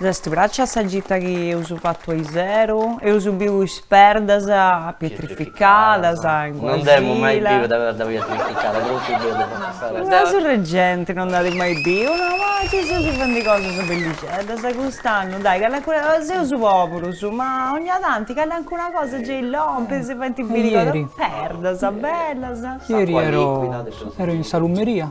S'est pràxia sa gita chi eus fatu aiseru, eus biu is perdas pietrificadas in Guasila. Non dd'emu mai biu de perda pietrificada, cun su dedu po passare. Ma su regenti non dd'at mai biu, no, ma si seus fendi cosas bellixeddas, cust'annu, dai, calincuna, seus poburus, ma ogna tanti calincuna cosa gei lompit, si faint biri cosas, perdas bellas. Ieri ero in salumeria,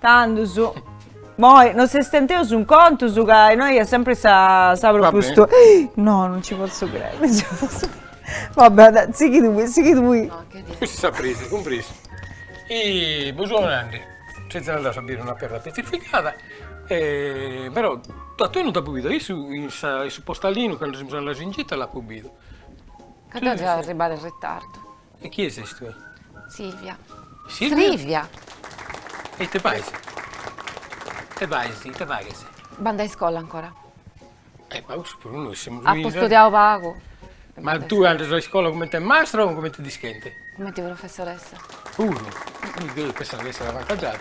Tandus. Moi no si stenteus in contus ca innoi est sempri sa sa propustu. No, non ci potzu crei. Vabbè, dai, sighi tui, sighi tui. Custa sa prima, cumpresa. E po su ananti sezis andaus a biri una perda petrificada e però a tui non t'apu bidu, a issu in sa in su postalinu candu semus andaus in gita l'apu bidu. Ca deu seu arribada in ritardu. E chie ses tue? Silvia. Silvia? E ite fais? Ite fais? Ite faghes? Bandu a iscola ancora. E ma cussu puru nois semus. Apo studiadu pagu. Ma tue andas a iscola comente mastra o comente dischente? Comente professoressa. Puru? Deu pensavo chi esseret avantaggiada.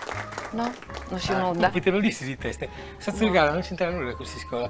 No, no sciu nudda. Ite no l'ischis it'est? Sa tzugada no c'intrat nudda cun s'iscola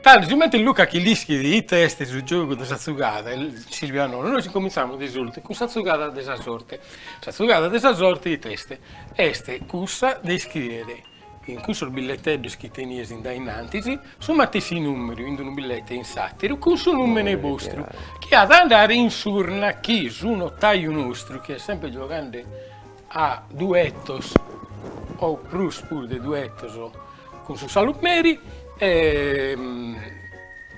Tando sigomente Luca chi l'ischit ite est su giogu de sa tzugada, Silvia nono, nois incomintzamus de s'urte cun sa tzugada de sa sorte. Sa tzugada de sa sorte ite est? Est cussa de iscrìere in cussos billeteddos chi tenies in dae innantis su matessi nùmeru in unu billete e in s'àteru cun su nùmene bostru chi at a andare in s'urna chi su notaju nostru chi est semper gioghende a duetos o prus puru de duetos cun su Salumeri e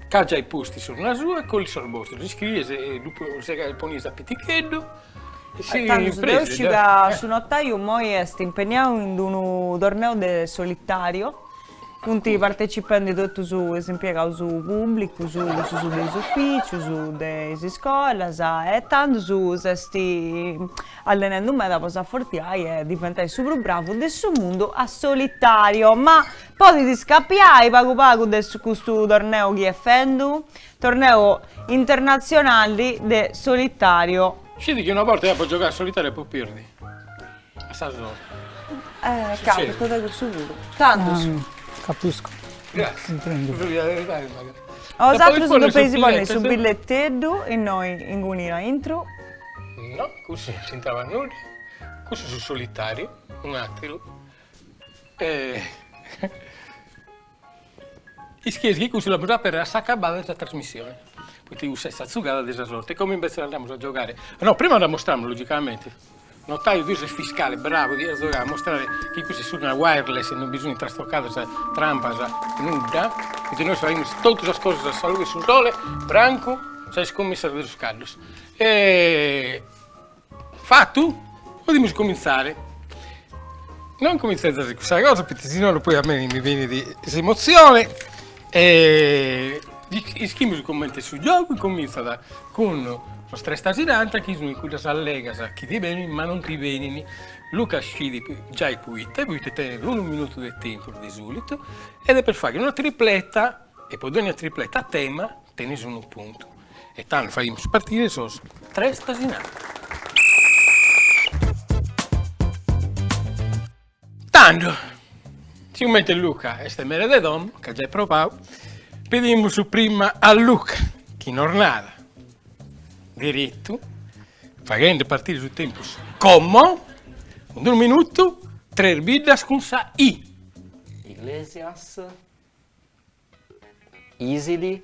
ca giai postu s'urna sua e collit sos bostros, ddu iscries e ddu ponies a piticheddu e si Tando su deo sciu ca su notaiu immoi est impenniau in unu torneu de solitariu Funt partecipendi totus is impiegaus pùblicus, cussus de is ufìcius, de is iscolas e tandus s'est allenendu meda po s'afortiai e diventai su prus bravu de su mundu a solitariu. Ma podit iscapiai pagu pagu de custu torneu chi est fendu? Torneu internatzionali de solitariu. Scit chi una borta apu giogau a solitariu e apu pèrdiu. Sa sorte. Capitat cussu puru. Cantos. Capisco. Grazie. Bosatrus depeis ponni su billetteddu innoi inguni aintru. No, cussu non c'intrabat nudda. Cussu su solitariu, un'ateru. Ischis chi cussu l'amus a aperrer a s'acabada de sa trasmissione, poita cussa est sa zugada de sa sorte, como imbetzes andamus a giogare, no prima dda mostramus logicamente, notaio tui ses fiscale, bravo, dias giogare a mostrare chi cussa est s'urna wireless e non bi sunt trastocadas, trampas, nudda, poita nois faghimus totu sas cosas a sa lughe 'e su sole, francu sas iscummissas de is caddos Fatu? Podimus comintzare. No incomintzes cussa cosa poita si no poi a mei mi benit s'emotzione e ischimus comente est su giogu, incomintzat cun sas tres tasinanta chi sunt cuddas allegas chi ti benint ma non ti benint, Luca scit giai poite, poite tenet unu minutu de tempus de solitu e depet fagher una tripleta E po dònnia tripleta a tema tenis unu puntu. E tando faghimus partire sos tres tasinanta. Tando, sigomente Luca est mere de domo, c'at giai probadu, pedimus prima a Luca chi nos narat deretu, faghende partire su tempus como, cun unu minutu, tres biddas cun sa i. Iglesias. Isili,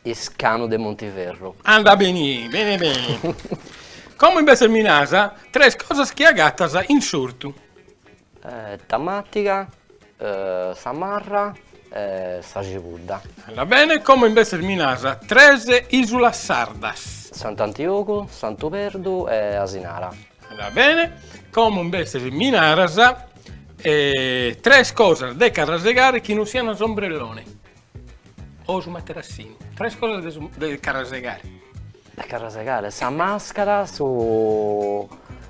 Iscanu de Montiferru. Anda beni, beni beni. Como imbetzes mi naras, tres cosas chi agatas in s'ortu. Tamatiga, sa marra e sa cibudda. Anda bene, como imbetzes mi naras, tres isulas sardas. Sant'Antiogu, Santu Perdu e Asinara. Va bene, como imbetzes mi naras, tres cosas de carrasegare chi non sian s'ombrellone o su materassinu, tres cosas de carrasegare. De carrasegare, sa mascara, su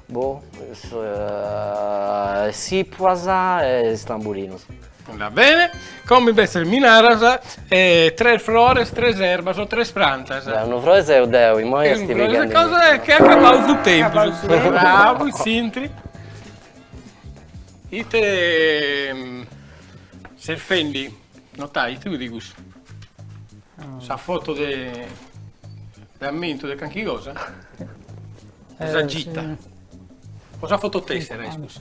boh is tzipuas e is tamburinos Va bene, como invece mi naras tres frores, tres erbas o tres prantas. Deu unu froe seu deu, immoi est pighendi. Cosa ch'est acabau su tempus. Bravo in s'intri. Ite ses fendi, notai, ite fut cussu? Sa foto de de ammentu de calchi cosa? De sa gita. O sa foto tessera est cussa?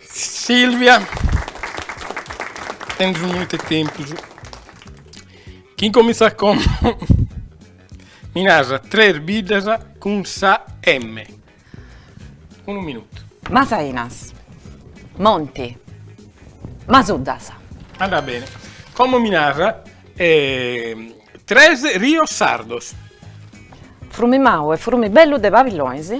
Silvia, tenes unu minutu 'e tempus, chi incomintzat como, mi naras tres biddas cun sa emme, unu minutu. Masainas, Monti, Masuddas. Andat bene, como mi naras tres rios sardos. Frumi Mau e Frumi Bellu de Pabillonis.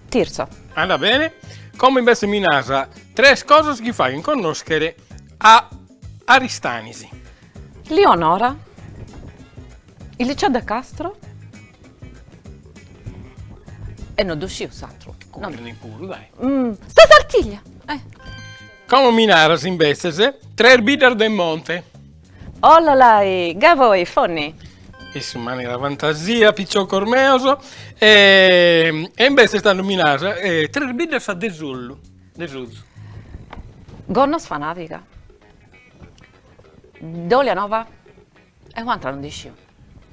Tirso. Andat bene. Como imbesses mi naras tres cosas chi faghen connòschere a Aristanis. Lionora, il liceo De Castro e no ddu sciu s'atru. Curre puru, dai. Sa Sartiglia. Como mi naras imbesses tres biddas de monte. Ollolai! Gavoi, Fonni! E sì, in manera fantasia, piciocos meos, e e imbesses tando mi naras, tres biddas de s'ollu, de s'ozu. Gonnosfanàdiga. Dolianova. E un'antra no dd'isciu.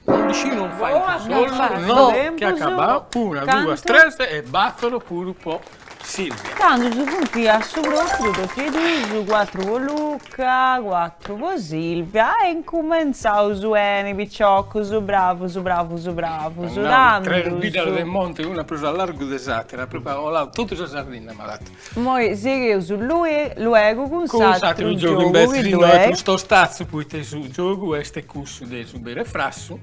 Undixinu faint s'ollu no ch'est acabau una duas tres e battoro puru po Silvia. Tandus funti a su propriu totu e duus cuatru po Luca cuatru po Silvia e incumentzaus beni piciocus bravus bravus bravus tandus. Tres biddas de monti una prus a largu de s'atera propriu at 'olau totu sa Sardinna m'at Moi sighius lue luegu cun s'atru giogu invece chi innoi est prus tostatzu poite su giogu est cussu de su beru e frassu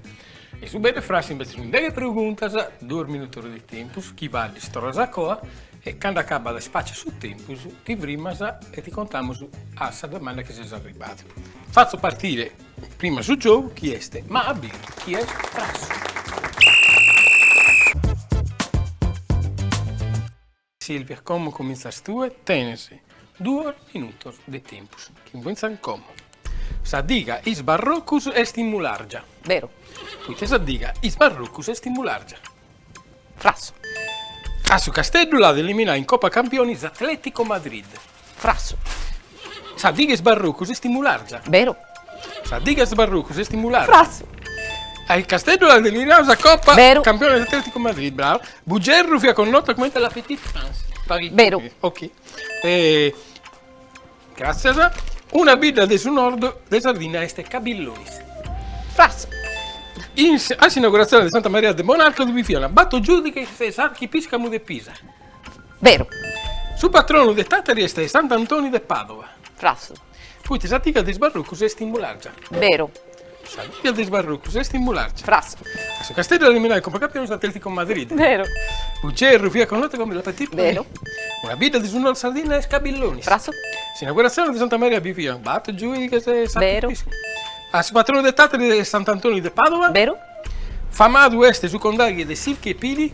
e su beru e frassu invece sunt deghe preguntas duos minutos de tempus chi faddis torras a coa e cando acabat ispàciat su tempus ti frimas e ti contamus a sa domanda chi ses arribadu fatzo partire prima su giogu chi est ma aberu chi est frassu. Silvia, como comintzas tue? Tenes duos minutos de tempus. Comintzan como. Sa diga is barrocus est in Mulargia. Beru. Poita sa diga is barrocus est in Mulargia. Frassu. A su Casteddu l'at eliminau in Copa Campionis Atletico Madrid. Frassu. Sa diga 'e is barrocus est in Mulargia. Beru. Sa diga 'e is barrocus est in Mulargia. Frassu. A su Casteddu l'at eliminau in Copa. Beru. Campionis Atletico Madrid, brava. Bugerru fiat connotu cumenti la petite France. Paris. Beru. Ok. Gràtzias. Una bidda de su Nord de Sardinna est Pabillonis. Frassu. A s'inauguratzioni de Santa Maria de Bonàrcadu bi fiant bator giùighes e s'archipiscamu de Pisa. Beru. Su patronu de Tàtari est Sant'Antoni de Pàdova. Frassu. Poita sa diga de is barrocus est in Mulàrgia. Beru. Sa diga de is barrocus est in Mulàrgia. Frassu. A su Casteddu eliminau in Copa Campionis Atletico Madrid. Beru. Bugerru fiat connotu comente La Petite Paris. Beru. Una bidda de su Nord Sardinna est Pabillonis. Frassu. S'inauguratzioni de Santa Maria bi fiant bator giùighes e s'apu. Beru. A su patronu de Tàtari est Sant'Antoni de Pàdova. Beru. Famadu est su condaghi de Sirchi e Pili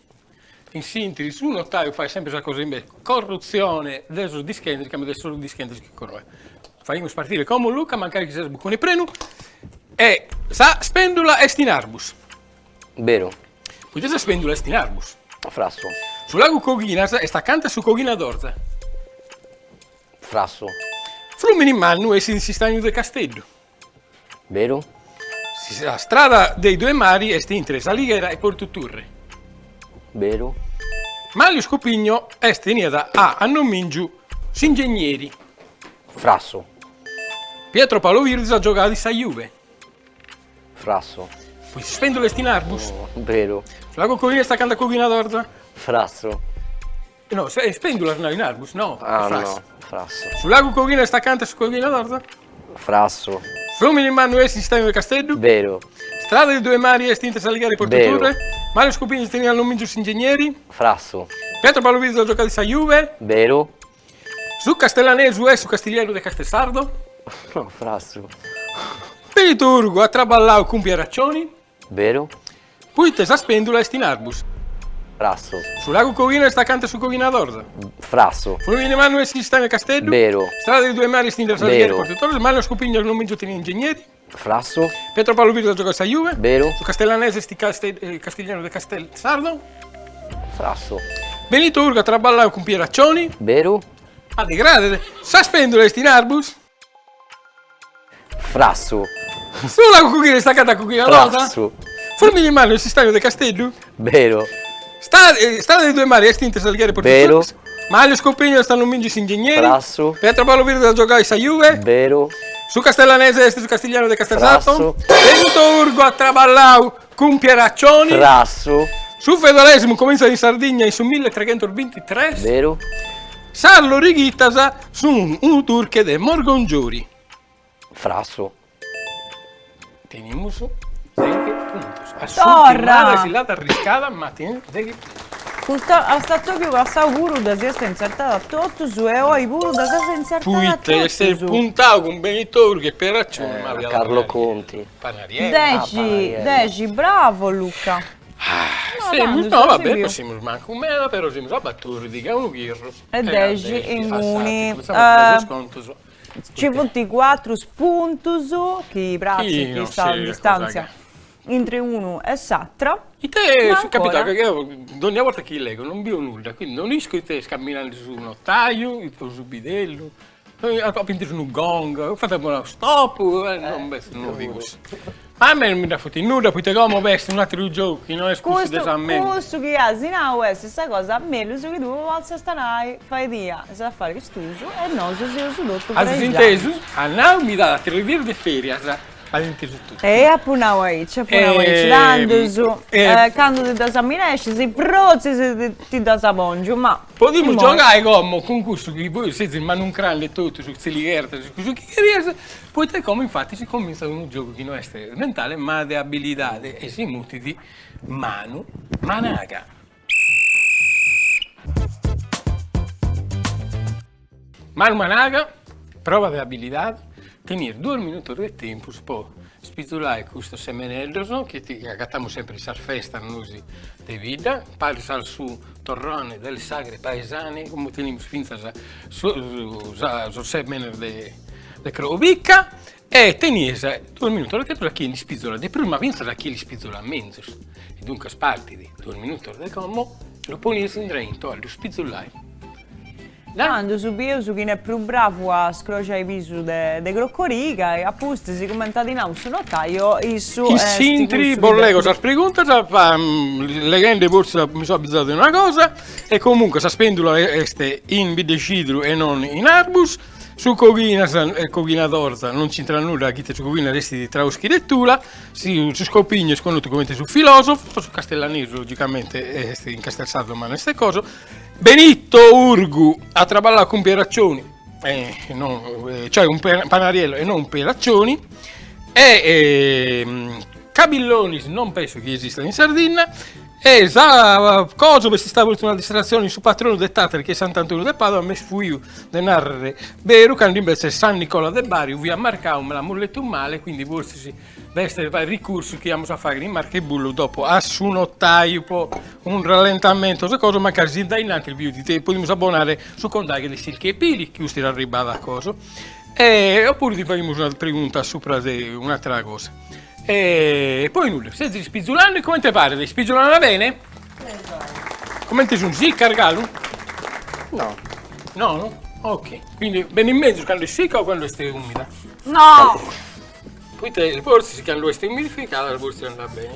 In s'intri su notaju fait sempre sas cosas in belle. Corrutzione de sos dischentes, càmbiu de sos dischentes chi coroe. Faghimus partire como Luca mancari chi ses buccone prenu e sa spendula est in Arbus. Beru. Poita sa spendula est in Arbus. Frassu. Su lagu Coghinas est accanta a su Coghinadorza. Frassu. Flumini Mannu essit in s'istagnu de Casteddu. Beru. Sa strada dei due mari est intre S'Alighera e Portu Turre. Beru. Manlio Scopigno est teniat a annomìngiu s'ingegneri. Frassu. Pietro Paolo Virdis at giogadu in sa Juve. Frassu. Poi sa spèndula est in Arbus. Beru. Su lagu Coghinas est acanta a Coghinadorza. Frassu. No, sa spèndula est in Arbus, no? Ah no, frassu. Su lagu Coghinas est acanta a su Coghinadorza? Frassu. Frumini Mannu est in s'istagnu de Casteddu? Beru. Strada dei due mari est intre S'Alighera e Portu Turre? Beru. Manlio Scopigno teniat annomìngiu s'ingegneri? Frassu. Pietro Paolo Virdis at giocadu in sa Juve? Beru. Su castellanesu est su castiglieru de Castelsardo? No, frassu. Benito Urgu at traballau cun Pieraccioni? Beru. Poite sa spèndula est in Arbus. Frassu. Su lagu Coghinas est acanta 'e su Coghinadorza. Frassu. Frumini Mannu est in s'istagnu 'e Casteddu. Beru. Strada dei due mari est intre S'Alighera e Portu Torres. Beru. Manlio Scopigno annomìngiu tenit ingegneri. Frassu. Pietro Paolo Virdis at giogau in sa Juve. Beru. Su castellanese est castiglianu de Castelsardo. Frassu. Benito Urgu at traballau cun Pieraccioni. Beru. Addegradet. Sa spèndula est in Arbus. Frassu. Su lagu Coghinas est acanta a Coghinadorza? Frassu. Frumini Mannu est in s'istagnu de Casteddu? Beru. Strada dei due mari est intre S'Alighera e Portu Turre? Beru. Manlio Scopigno est annomìngiu s'ingegneri? Frassu. Pietro Paolo Virdis at giogau in sa Juve? Beru. Su castellanese est su castiglianu de Castelsardo? Frassu. Benito Urgu at traballau Cun Pieraccioni. Frassu. Su feudalesimu comintzat in Sardigna in su milletreghentusbintitres. Beru. Sas lorighittas sun unu durche de Morgongiori. Frassu. Tenimus deghi puntos. A s'urtima ora si l'at arriscada ma tenimus deghi puntos. Custa a s'atobiu passau puru ddas iast intzertada totus e oi puru ddas as intzertada totus. Poita est puntau cun Benito Urgu e Pieraccioni. Carlo Conti. Dexi, dexi, bravo Luca. Semus, no va bene, no semus mancu meda, però semus a batòrdighi a unu chirru e dexi e inguni nci funt cuatru puntus chi pratzint sa distàntzia intri unu e s'atera. Ite est capitau, ca deu dònnia borta chi legu non bìu nudda, quindi non isco ite est cumbinandi su notaju, ite su bidellu A pintu unu gong, fatzu unu stop, non b'est nudda de cussu. A mei non mi dda futit nudda poita como b'est un'ateru giogu chi no est cussu de sa menti. Cussu chi as nau est sa cosa mellus chi tue potzast nai, faedhia is afaris tuus e nosu seus totu prejaus. As intesu? As nau mi dat aterus dias de ferias, as intesu totu. E apu nau aici, apu nau aici, tandus, candu ti ddas amminescis, frotzis ti ddas pongiu, ma. Podimus giogai como cun cussu chi bois sezis manuncrandi e totu su tzilighertas e cussu chi cherias, poita como infati si comintzat unu giogu chi no est mentale ma de abilidadi e si mutit manu managa. Manu Managa, prova de abilidade, tenies duos minutos de tempus po spizulai custos semeneddos chi ti agatamus sempre in sas festas nosi de bidda, paris a su torrone delle sagre paesane, como tenimus fintzas sos semenes de crocorica E tenies duos minutos de tempus a chie l'ispìzola de prus ma fintzas a chie l'ispìzola menzus, e duncas partit duos minutos de como lu ponies indrento a lu ispìzolai. Tandus bieus chin'est prus bravu a scroxai pisu de crocoriga e apustis sicumente at nau su notaio issu est cussu chi Intri bos lègio sas preguntas leghende fortzis mi so abbizadu de una cosa e comunque Sa Spendula est in biddecidru e non in arbus Su coghinas e coghinadorza non c'intrat nudda chi ite su coghinas est traschi lettura, su Scopigno est connotu comente su filosofu, su castellanesu logicamente est in castelsardu ma no est coso, Benito Urgu at traballau cun Pieraccioni cioè cun Panariello e non cun Pieraccioni e Cabillonis non penso chi esistat in Sardinna E sa cosa est istada puru una distratzioni in su patronu de Tàtari chi est Sant'Antoniu de Pàdova, m'est fuiu de nàrrere beru, candu imbetzes est San Nicola de Bari fiat marcau, me l'amus letu male, quindi fortzis b'est fai ricursu chi amus a fàghere in marca 'e bullu dopo a su notàiu po unu rallentamentu o sa cosa, mancari si dae innantis biet ti podimus abonare su condaghe de Silki e Pili, chi custu ir'arribbada a coso, e oppuru ti faghimus una pregunta subra de un'atera cosa. E poi nudda, sezis ispizulende e comente paret, ispizulana bene? Comente sunt, sicca argalu? No. No? Ok, quindi benit mezus cando est sicca o cando est umida? No! Poita forsis cando est umidificada forsis andat bene.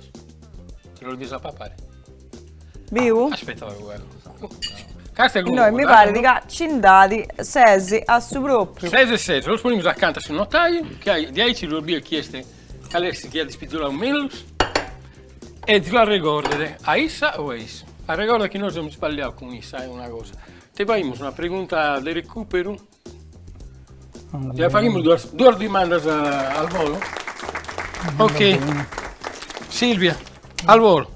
Ti los bides a papare? Biu? Aspetta pagu pagu. Casta est No, mi paret ca nci nd'at ses a su propiu. Ses e ses, los ponimus acanta a su notaiu, diaici ddos biet chi est, cale est chi at ispizoladu mellus e ddi faghet arregordere a issa o a issu. Arregorda chi no semus isballiaus cun issa e una cosa, ite faimus una pregunta de recuperu Ja faghimus duas duas dimandas al volo? Ok. Silvia, al volo.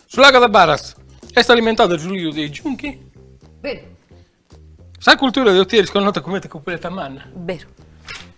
Su lago de Baratz est alimentadu dae su riu dei Giunchi? Beru. Sa cultura de Otieri est connota comente Cupuletta Manna? Beru.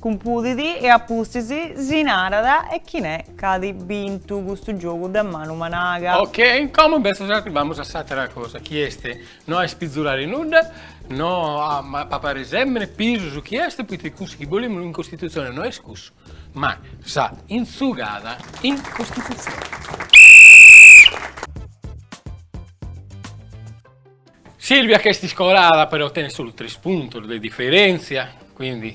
Cumpudit e a pustis si narat chin' est ca at bintu custu giogu de manu managa. Ok, como imbetzes arribamus a s'àtera cosa chi est no a ispizolare nudda, no a papare sèmene pisus chi est, poita cussu chi bolimus in Costitutzione no est cussu, ma sa intzugada in Costitutzione. Silvia ch'est iscorada però tenet solu tres puntos de diferèntzia, quindi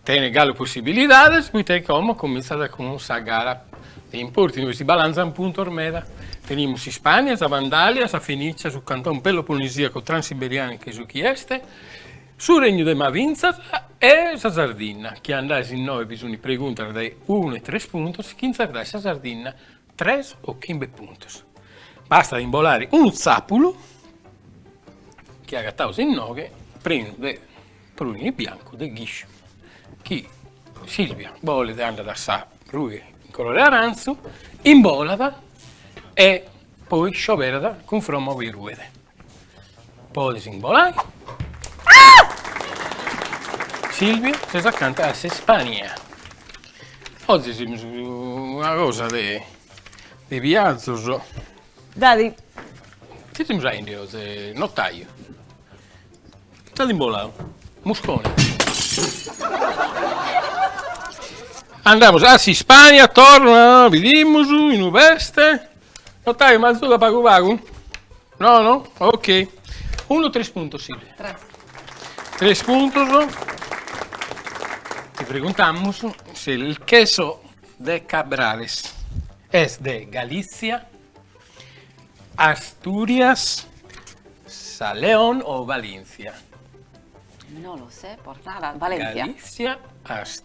tenet galu possibilidades, poita chi como comintzat cun sa gara de importu, inue si balanzan puntos meda, tenimus s'Ispànnia, sa Vandalia, sa Fenícia, su Cantone Peloponnisìaco Transiberiane che su chi est, su Regnu de Mavintzas e sa Sardinna, chi andais innoi bi sunt preguntas de unu e tres puntos, chi intzertais sa Sardinna tres o chimbe puntos, bastat imbolare unu tzàpulu chi agataus inoghe prenu de prùini biancu de ghisciu chi Silvia bolet andat a sa rughe in colore arantzu, imbolat e poi scioberat cun fromma ue ruet. Podes imbolare. Silvia ses acanta a s'Ispania. Oggi semus a una cosa de de viazzos. Dai. Ite semus faende, o notaio? Dd'at imbolau. Muscone. Andamus a s'Ispania, torra, bidimus inue est. Notaio m'azuda pagu pagu? No no? Ok. Unu tres puntos Silvia. Tres. Tres puntos. Ti preguntamus se il queso de Cabrales est de Galizia, Asturias, sa Leon o Valintzia. No lo sé, por nara, Valentzia. Galizia, Asturias.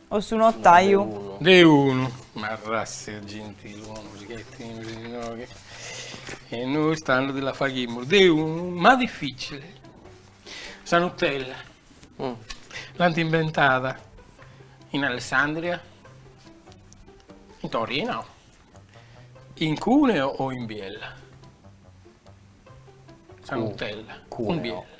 O su notaiu. De unu. Ma ratza 'e gentilòmines che tenimus innoghe e nois tando ti la faghimus de unu, ma dificile. Sa Nutella l'ant imbentada in Alessandria, in Torino, in Cuneo o in Biella? Sa Nutella in Biella.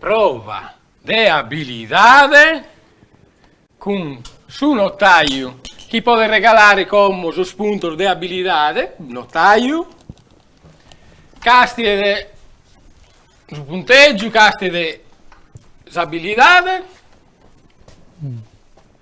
Prova de abilidade cun su notàiu chie podet regalare como sos puntos de abilidade, notàiu, càstiet su puntègiu, càstiet s'abilidade,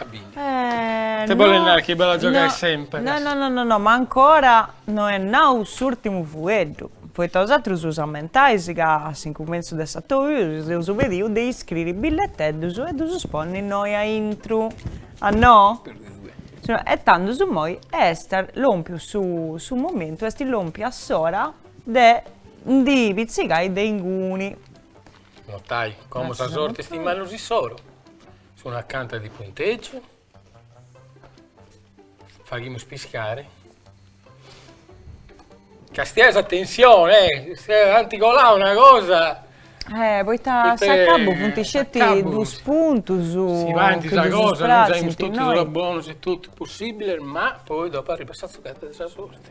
At bintu. Ite bolet nai chi b'at a giogai semper? No no no no, ma ancora no est nau s'ùrtimu fueddu, poita bosatrus si ammentais ca a s'incumentzu de sa tour si eus pediu de iscriri billeteddus e ddus ponni innoi a intru, a no? E tandus immoi est lòmpiu su su momentu, est lòmpia s'ora de ndi pitzicai de inguni. Notàiu, como sa sorti est in manus issoro. Sunt acanta de punteggiu. Faghimus piscare. Castia, attenzione, eh, se anti colà una cosa... Eh, poita a s'acabu funt sceti dus puntus... Si faint sa cosa, non saimus totus sos bonus e totus possìbiles, ma poi dopo arribat sa tzucada de sa sorti.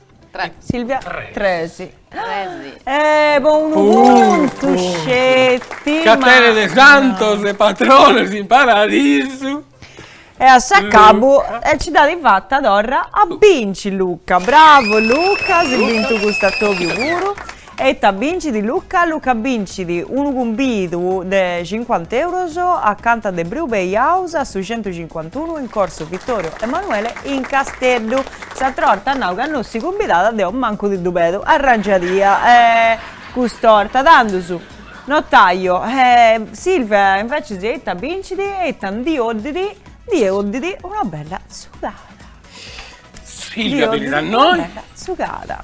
Silvia tres. Eh, po unu puntu sceti. Luca tenet santos e patronos in paradisu. E a s'acabu nci dd'at fata torra a binci Luca. Bravo Luca, as bintu custa 'orta puru. E ita bincit Luca, Luca bincit unu cumbidu de cincuant'euros acanta de Brew Bay House a su centucincuantunu in Corso Vittorio Emanuele in Casteddu. S'atra 'orta at nau ca no si cumbidat e deo mancu ti ddu pedu, arrangiadia cust'orta, tandus notàiu e Silvia inveces e ita bincit e ita ndi 'oddit, ndi 'oddit una bella tzugada. Silvia beni a innoi. Ndi 'oddit una bella tzugada.